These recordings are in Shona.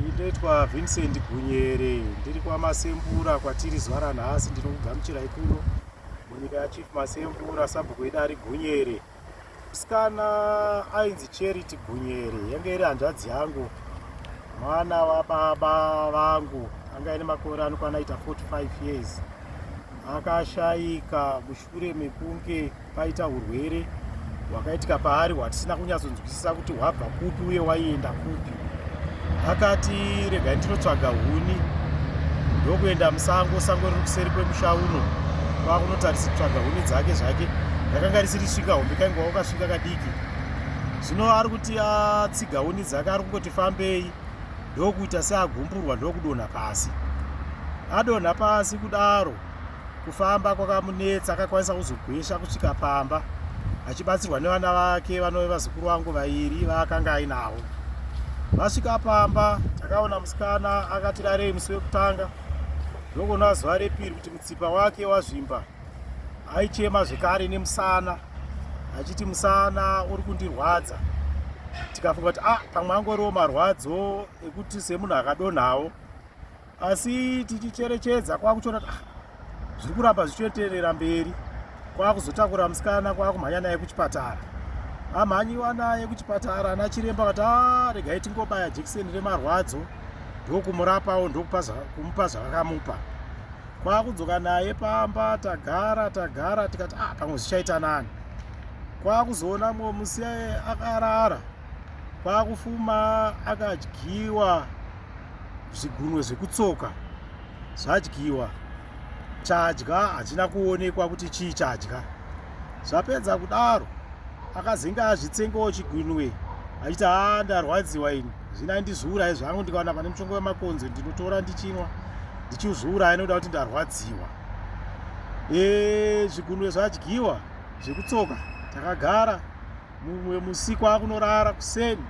Ndoitwa Vincent Gunyere, ndiri kwaMasembura kwatiri zuva ranhasi. Ndinokugamuchirai kuno munyika yaChief Masembura. Sabhuku wedu ari Gunyere, musikana ainzi Charity Gunyere, yange iri hanzvadzi yangu, mwana wababa vangu, anga ine makore anokwana aita 45 years, akashaika mushu shure mekunge paita urwere hwakaitika paari hwatisina kunyatsonzwisisa kuti hwabva kupi uye waienda kupi akati regai ndinotsvaga huni ndokuenda musango sango riri kuseri kwemusha uno kwakunotarisa kutsvaga huni dzake zvake ndakanga risiri svika hombe kainge wakasvika kadiki zvino ari kuti atsiga huni dzake ari kungoti fambei ndokuita seagumburwa ndokudonha pasi adonha pasi kudaro Kufamba kwakamunetsa akakwanisa kuzogwesha kusvika pamba achibatsirwa nevana vake vanove vazukuru vangu vairi vaakanga ainavo. Vasvika pamba takaona musikana akati rarei musi wekutanga ndokuona zuva repiri kuti mutsipa wake wazvimba aichema zvekare nemusana achiti musana uri kundirwadza tikafunga kuti ah pamwe angoriwo marwadzo ekuti semunhu akadonhawo asi tichicherechedza kwakuchiona kuti ah, zviri kuramba zvichioterera mberi kwakuzotakura musikana kwakumhanya naye kuchipatara amhanyiwa naye kuchipatara ana chiremba vati ah, regai tingobaya jekiseni remarwadzo ndokumurapawo ndokumupa zvavakamupa kwakudzoka naye pamba tagara tagara tikati ah, pamwe zvichaita nani kwakuzoona mumwe musi akarara kwakufuma akadyiwa zvigunwe zvekutsoka zvadyiwa chadya hachina kuonekwa kuti chii chadya zvapedza kudaro akazenge azvitsengawo chigunwe achiti haa ndarwadziwa ini zvina ndizviuraye zvangu ndikawana pane muchongo wemakonzo ndinotora ndichinwa ndichizviuraya nokuda kuti ndarwadziwa e zvigunwe zvadyiwa zvekutsoka takagara Mumwe musi kwakunorara kuseni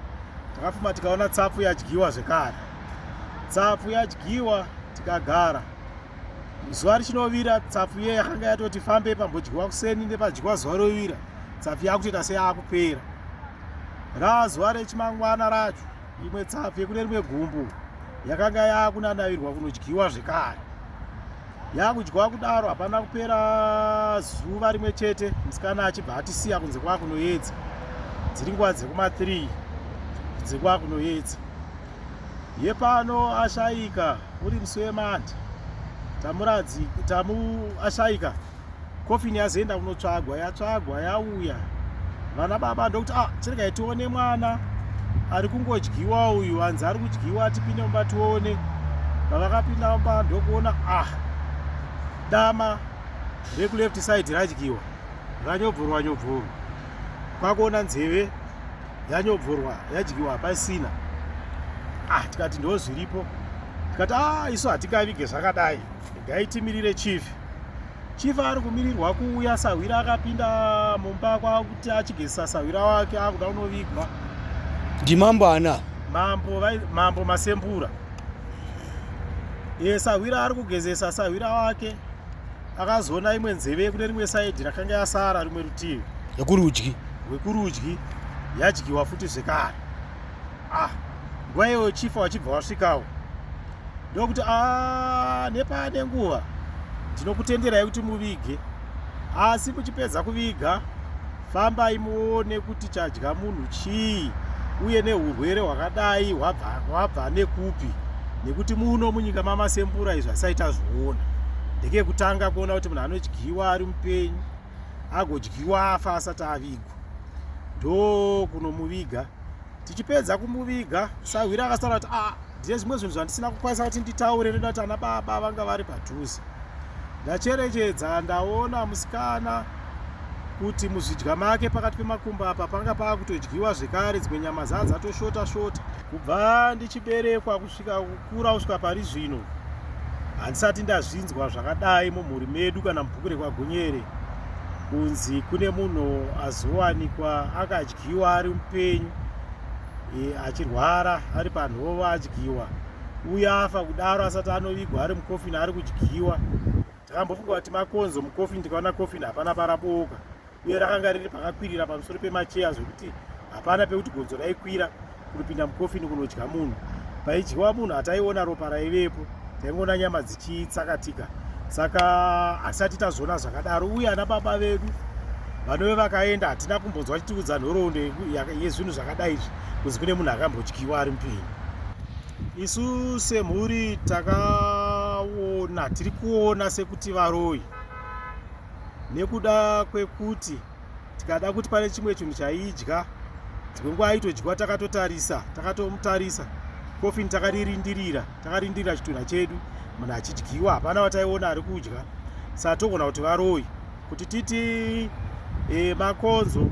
takafuma tikaona tsapfu yadyiwa zvekare. Tsapfu yadyiwa tikagara. Zuva richinovira tsapfu iye yakanga yatoti fambe pambodyiwa kuseni nepadyiwa zuva rovira. Tsapfu yakutoita seyakupera. Raa zuva rechimangwana racho imwe tsapfu yekune rimwe gumbu yakanga yakunanavirwa kunodyiwa zvekare. yakudyiwa kudaro hapana kupera zuva rimwe chete musikana achibva atisiya kunze kwakunoyedza dziri nguva dzekuma 3 kunze kwakunoyedza yepano ashaika uri musi wemandi tamuradzi tamu ashaika coffin yazoenda kunotsvagwa yatsvagwa yauya vana baba ndokuti ah chiregai tione mwana ari kungodyiwa uyu hanzi ari kudyiwa tipinde mumba tione pavakapinda mumba ndokuona ah dama rekuleft side radyiwa ranyobvorwa nyobvorwa kwakuona nzeve yanyobvorwa yadyiwa pasina ah tikati ndozviripo tikati ah isu hatingavige zvakadai Regai timirire chief. Chief ari kumirirwa kuuya sahwira akapinda mumba kwakuti achigezisa sahwira wake akuda kunovigwa. Ndimambo ana. Mambo vai mambo masembura. Ye sahwira ari kugezesa sahwira wake akazoona imwe nzeve kune rimwe side rakanga yasara rimwe rutivi. Yekurudyi. Wekurudyi yadyiwa futi zvekare. ah nguva iyoyo chifa wachibva wasvikawo ndokuti a ah, nepaane nguva ndinokutenderai kuti muvige asi muchipedza kuviga fambai muone kuti chadya munhu chii uye neurwere hwakadai hwabva nekupi nekuti muno munyika mamasembura izvi asaita zvoona ndekekutanga kuona kuti munhu anodyiwa ari mupenyu agodyiwa afa asati avigwa ndokunomuviga tichipedza kumuviga sahwira akasara kuti ah ndine zvimwe zvinhu zvandisina kukwanisa kuti nditaure ndoda kuti ana baba vanga vari padhuze ndacherechedza ndaona musikana kuti muzvidya make pakati pemakumbo apa panga pava kutodyiwa zvekare dzimwe nyama zaa dzatoshota shota kubva ndichiberekwa kusvika kukura kusvika pari zvino handisati ndazvinzwa zvakadai mumhuri medu kana mubhuku rekwagonyere kunzi kune munhu azowanikwa akadya adyiwa ari mupenyu e, achirwara ari panhova adyiwa uye afa kudaro asati anovigwa ari mukofini ari kudyiwa ndakambofunga kuti makonzo mukofini ndikaona kofini hapana parabooka uye rakanga riri pakakwirira pamusoro pemacheya zvekuti hapana pekuti gonzo raikwira kunopinda mukofini kunodya munhu paidyiwa munhu hataiona ropa raivepo taingoona nyama dzichitsakatika saka hatisati tazoona zvakadaro uye ana baba vedu vanove vakaenda hatina kumbonzwa vachitiudza nhoroondo yezvinhu zvakadai izvi kunzi kune munhu akambodyiwa ari mupenyu isu semhuri takaona tiri kuona sekuti varoyi nekuda kwekuti tikada kuti pane chimwe chinhu chaiidya dzimwe nguva aitodyiwa takatotarisa takatomutarisa kofini takaririndirira takarindirira chitunha chedu munhu achidyiwa hapana vataiona ari kudya saa togona kuti varoyi kuti titi e, makonzo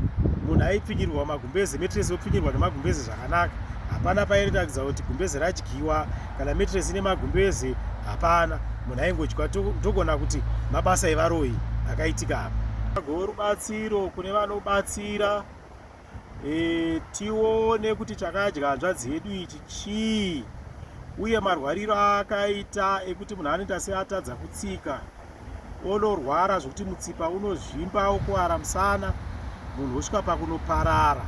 munhu aipfinyirwa magumbeze metresi yopfinyirwa nemagumbeze zvakanaka hapana pairatidza kuti gumbeze radyiwa kana metres ine magumbeze hapana munhu aingodya ndogona kuti mabasa evaroyi akaitika apa agowe rubatsiro kune vanobatsira e, tione kuti chakadya hanzvadzi yedu ichi chii uye marwariro aakaita ekuti munhu anoita seatadza kutsika onorwara zvekuti mutsipa unozvimba okuvara musana munhu osvika pakunoparara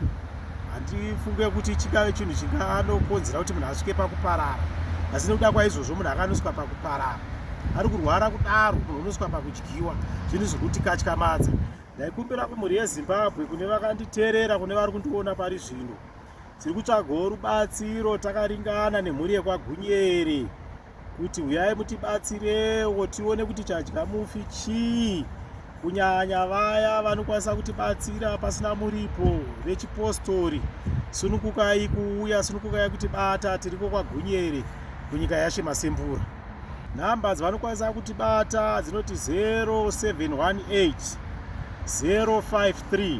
handifunge kuti chingave chinhu chinganokonzera kuti munhu asvike pakuparara asi nekuda kwaizvozvo munhu akanosvika pakuparara ari kurwara kudaro munhu unosvika pakudyiwa zvinhu zvekuti katyamadza ndaikumbira kumhuri yezimbabwe kune vakanditeerera kune vari kundiona pari zvino tiri kutsvagawo rubatsiro takaringana nemhuri yekwagunyeri kuti huyai mutibatsirewo tione kuti chadya mufi chii kunyanya vaya vanokwanisa kutibatsira pasina muripo vechipostori sunukukai kuuya sunukukai kutibata tiriko kwagunyere kunyika yashe masembura nhamba dzavanokwanisa kutibata dzinoti 0718 053